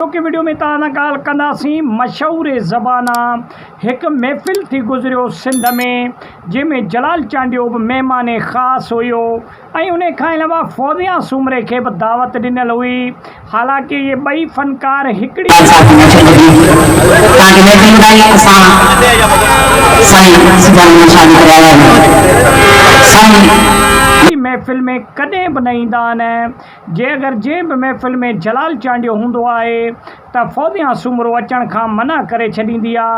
اڄوڪي وڊيو ۾ توهان سان ڳالهه ڪنداسين مشهور زبانا هڪ محفل ٿي گذريو سنڌ ۾ جنهن ۾ جلال چانڊيو به مهمان خاص هيو ۽ انهي کان علاوه فوزيا سومري کي به دعوت ڏنل هئي حالانڪه اهي ٻئي فنڪار هڪڙي ئي جلال صاحب کي محفل ٻڌي توهان کي محفل ٻڌائي اسان سائين سجاد احمد شاهه جي ڪري آيا آهيون سائين جي محفل ۾ ڪڏهن به نه ايندا آهن. جي اگر جنهن به محفل ۾ جلال چانڊيو هوندو آهي ته فوزيان سومرو اچڻ کان منع ڪري ڇڏيندي آ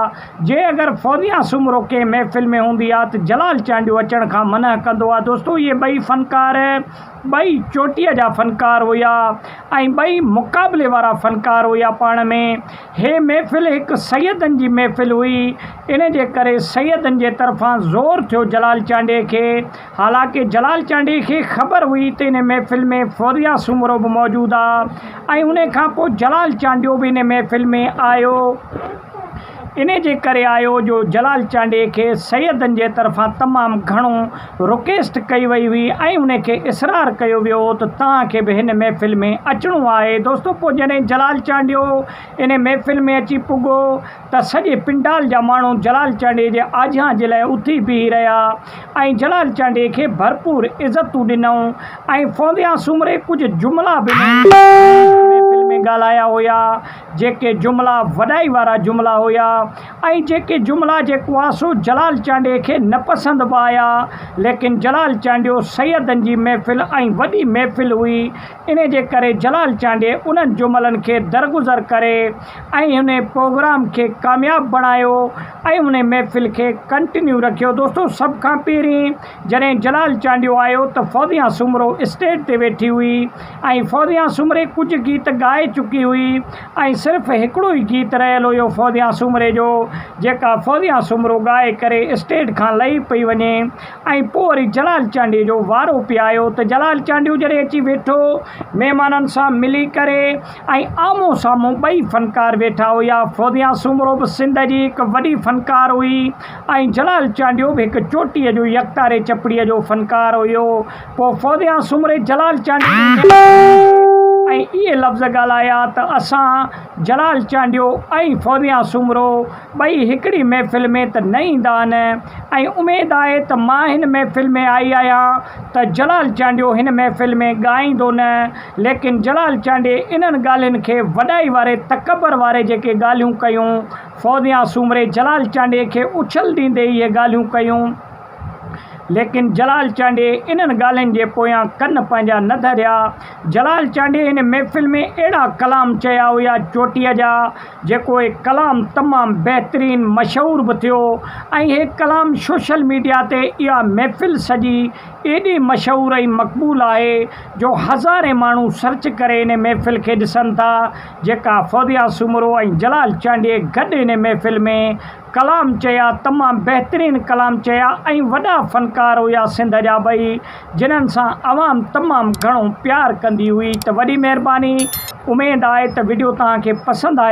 جي اگر فوزيان سومرو ڪنهن محفل ۾ هوندي آ ته جلال چانڊيو اچڻ کان منع ڪندو آ دوستو اهي ٻئي فنڪار ٻئي چوٽيء جا فنڪار هيا ۽ ٻئي مقابلي وارا فنڪار هيا پاڻ ۾ هي محفل هڪ سيدن جي محفل هئي ان جي ڪري سيدن جي طرفان زور ٿيو جلال چانڊيي کي حالانڪ جلال چانڊيي کي خبر هئي ته ان محفل ۾ فوزيا سومرو به موجود آ ۽ ان کان پوء جلال چانڊيو به ان محفل ۾ آيو. انهي جي ڪري آيو جو جلال چانڊيي کي سيدن جي طرفان تمام گهڻو رڪيسٽ ڪئي وئي هئي ۽ ان کي اصرار ڪيو ويو هو ته توهان کي به هن محفل ۾ اچڻو آهي. دوستو پوء جڏهن جلال چانڊيو ان محفل ۾ اچي پڳو ته سڄي پنڊال جا ماڻهو جلال چانڊيي جي آجيان جي لاء اٿي بيهي رهيا ۽ جلال چانڊيي کي ڀرپور عزتون ڏنائون ۽ فونديان سومري ڪجهه جملا به نئين محفل ۾ ڳالهايا هيا جيڪي جملا وڏائي وارا جملا هيا ۽ جيڪي جملا جي ڪواسو جلال چانڊيي کي نه پسند به آيا ليڪن جلال چانڊيو سيدن جي محفل ۽ وڏي محفل هئي انهيء جي ڪري جلال چانڊيي انهن جملن کي درگذر ڪري ۽ انهيء پروگرام کي ڪامياب بڻايو ۽ انهيء محفل کي ڪنٽينيو رکيو. دوستو سڀ کان پهرين جڏهن جلال چانڊيو آيو ته فوزيان سومرو اسٽيج تي ويٺي هئي ۽ فوزيان سومري ڪجهه گيت ڳائي چڪي هئي ۽ صرف هڪڙو ئي گيت رهيل هيو فوزيان سومري جو جيڪا فوزيان سومرو ڳائي ڪري اسٽيج کان لهي پئي وڃي ۽ پوء وري جلال چانڊيو جو وارو پيايو ته جلال چانڊيو جڏهن اچي ويٺو، مهمانن سان ملي ڪري ۽ آمهون سامهون ٻئي فنڪار ويٺا هيا. فوزيا سومرو به سنڌ جي هڪ وڏي فنڪار هئي ۽ جلال چانڊيو به هڪ چوٽيء جو يڪتاري چپڙيء جو فنڪار هيو. پوء فوزيا سومري جلال چانڊيو جي نياڻي کي ڏٺو ۽ اهي لفظ ڳالهايا ته اسان، جلال چانڊيو ۽ فوزيا سومرو، ٻئي هڪڙي محفل ۾ ته نه ايندا آهن ۽ اميد آهي ته مان هن محفل ۾ آئي آهيان ته جلال چانڊيو هن محفل ۾ ڳائيندو نه ليڪن جلال چانڊي انهن ڳالهين کي وڏائي واري تڪبر واري جيڪي ڳالهيون ڪيون فوزيان سومري جلال چانڊي کي اڇل ڏيندي اهي ڳالهيون ڪيون ليڪن جلال چانڊي انهن ڳالهين جي پويان ڪن پنهنجا نه ڌريا جلال چانڊي هن محفل ۾ اهڙا ڪلام چيا هيا چوٽيء جا جيڪو هي ڪلام تمام بهترين مشهور به ٿيو ۽ هي ڪلام سوشل ميڊيا تي اها محفل سڄي ايڏي مشهور ۽ مقبول آهي جو هزارين ماڻهو سرچ ڪري انهي محفل کي ڏسن ٿا جيڪا فوزيا سومرو ۽ جلال چانڊيي گڏ انهي محفل ۾ ڪلام چيا تمام بهترين ڪلام چيا ۽ وڏا فنڪار هيا سنڌ جا ٻئي جنهن سان عوام تمام گهڻو پيار ڪندي هئي ته وڏي مهرباني اميد آهي ته وڊيو توهان کي پسند آيو.